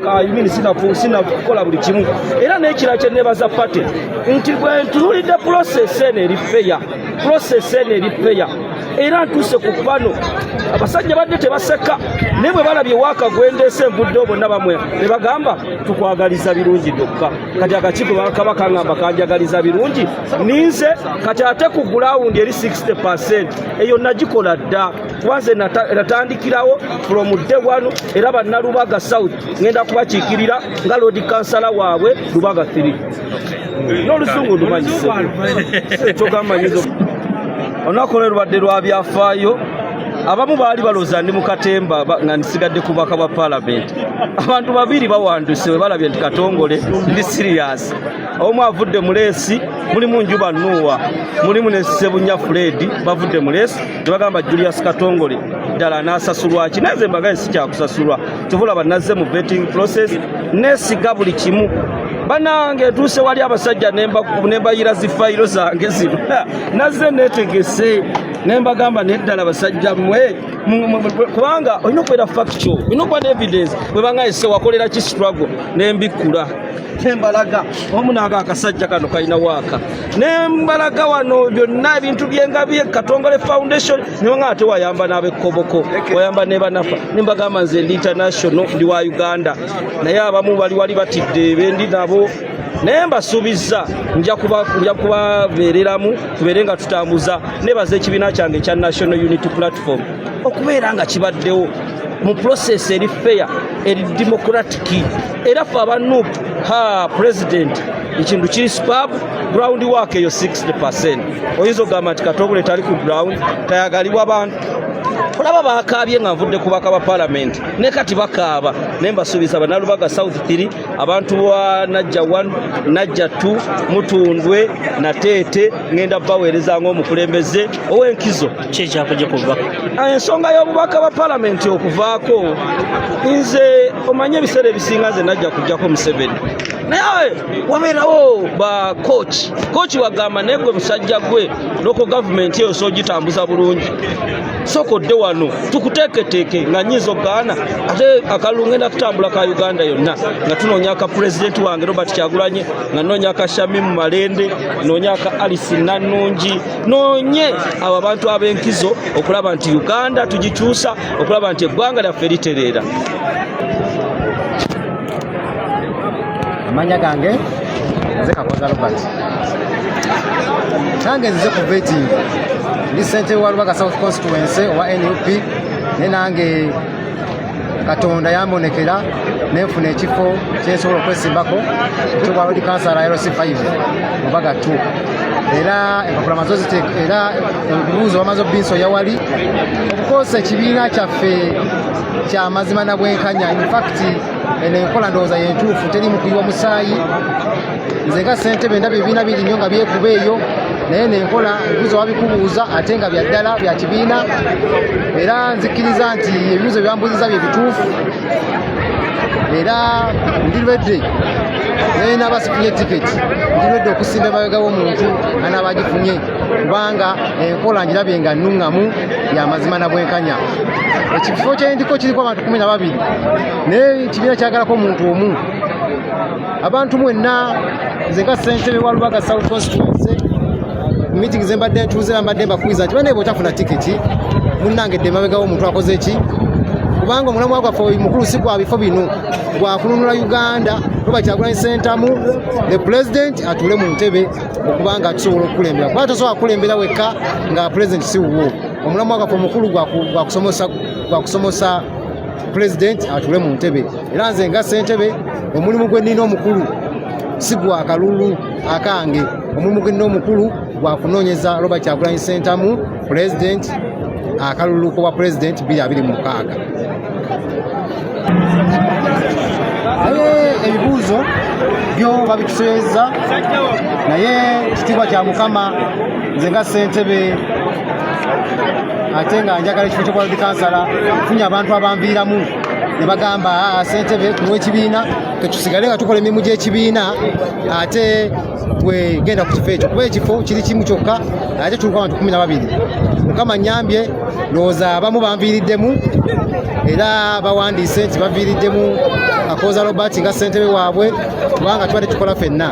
kayimini sina kukola buli kimu era n'ekirala kye nebaza pate nti bwe ntunulidde pulosesi eno eri feya pulosesi eno eri feya era ntuuse ku bano abasajja badde tebaseka naye bwe balabye waaka gwendeese envudde obonna bamwe ne bagamba tukwagaliza birungi byokka kati akakiiko bakaba kangamba kanjagaliza birungi ninze kati ate ku gulawundi eri 60 eyo nagikola dda kuba nze natandikirawo from day one era bannalubaga south ngenda kubakiikirira nga lodi kansala waabwe lubaga 3 n'oluzungu ndumanyise ekyogambanyizo olunaku lwe lubadde lwa byafaayo abamu baali baloza ndi mukatemba nga nsigadde ku baka bwa palamenti abantu babiri bawanduse we balabye nti katongole ndi siriyasi omu avudde muleesi mulimu njuba nuuwa mulimu ne sebunya fuledi bavudde muleesi tebagamba julius katongole ddala anasasulwa ki naze mbagaye sikyakusasulwa kyovulaba nazze mu vetting process nesiga buli kimu banange etuuse wali abasajja nembayira zifayiro zange zino nazze netegese nembagamba neddala basajja mwe kubanga olina okubeera factual olina okuba ne evidence bwebanga ese wakolera ki struggle nembikkula tembalaga omu naaga akasajja kano kalina waaka nembalaga wano byonna ebintu byengabi katongole foundation nibanga ate wayamba n'abekoboko wayamba nebanafa nembagamba nze ndi international ndi wa uganda naye abamu bali wali batidde bendi nabo naye mbasuubizza nja kubabeereramu tubeere nga tutambuza nebaza ekibiina kyange ekya national unity platform okubeera nga kibaddewo mu process eri fair eri democratic era fe abanup ha president ekintu kiri spab ground work eyo 60 percent oyinza okugamba nti katongole tali ku ground tayagalibwa abantu olaba bakaabye nga nvudde ku baka ba palamenti ne kati bakaaba naye mbasuubiza banalubaga south 3 abantu ba najja 1 najja 2 mutundwe nateete ŋenda baweereza ngaomukulembeze owenkizo kyekyakuja kuva ah, ensonga y'obubaka bwa palamenti okuvaako nze omanye ebiseera ebisinga nze najja kujjako museveni naye wabeerawo ba koki koki wagamba naye gwe musajja gwe loko gavumenti eyo sogitambuza bulungi sooka odde wano tukuteeketeeke nga nyinza okugaana ate akalulu ngenda kutambula ka uganda yonna nga tunoonya ka pulezidenti wange robert kyagulanye nga noonya ka shamimu malende noonya ka alice nannungi noonye abo abantu ab'enkizo okulaba nti uganda tugikyusa okulaba nti eggwanga lyaffe litereera amanya gange nze kakoza robert nange nzize ku vetting ndi sente wa lubaga south constituency owa nup naye nange katonda yambonekera nenfuna ekifo kyensobola okwesimbako ekyowa lodi kansala lc 5 mubaga 2 era empapula mazo ziteeka era ebibuuzo bamaze obinso yawali okukosa ekibiina kyaffe kyamazima na bwenkanya infact eno enkola ndowooza yentuufu teri mukuyiwa musaayi nze nga sentebe ndaba ebibiina biri nnyo nga byekuba eyo naye nenkola ebibuzo wabikubuuza ate nga bya ddala bya kibiina era nzikiriza nti ebibuzo byambuziza bye bituufu era ndi lwedde naye naaba sifunye tiketi ndi lwedde okusimba emabega w'omuntu anaaba agifunye kubanga enkola ngirabye nga nnuŋŋamu ya mazima na bwenkanya ekifo kyendiko kiriko abantu kumi na babiri naye kibiina kyagalako omuntu omu abantu mwenna nze nga sentebe wa lubaga south constituency meeting zembadde ntuuze bambadde mbakwiza nti banaye bwotafuna tiketi munange dde mabegawo omuntu akoze ki kubanga omulamwa gwaffe mukulu si gwa bifo bino gwakununula uganda oba kyagulanyi sentamu the president atuule mu ntebe okubanga tusobola okukulembera kuba tosobola kukulembera wekka nga pulezidenti si wuwo omulamwa gwaffe omukulu gwakusomosa pulezidenti atule mu ntebe era nze nga sentebe omulimu gwe nnina omukulu si gwa kalulu akange omulimu gwe nnina omukulu gwakunoonyeza robert kyagulanyi sentamu President akalulu ku bwa president biri abiri mu mukaaga ebibuuzo byo babituseeza naye kitiibwa kya mukama nze nga ssentebe ate nga njagala ekifo kyokuba dikansala funye abantu abanviiramu ne bagamba ah, ssentebe tuwa ekibiina tetusigale nga tukola emirimu gy'ekibiina ate gwe genda ku kifo ekyo kuba ekifo kiri kimu kyokka ate tuuka abantu kumi na babiri mukama nyambye lowooza abamu banviiriddemu era bawandiise nti baviiriddemu akooza robert nga ssentebe waabwe kubanga tubadde tukola fenna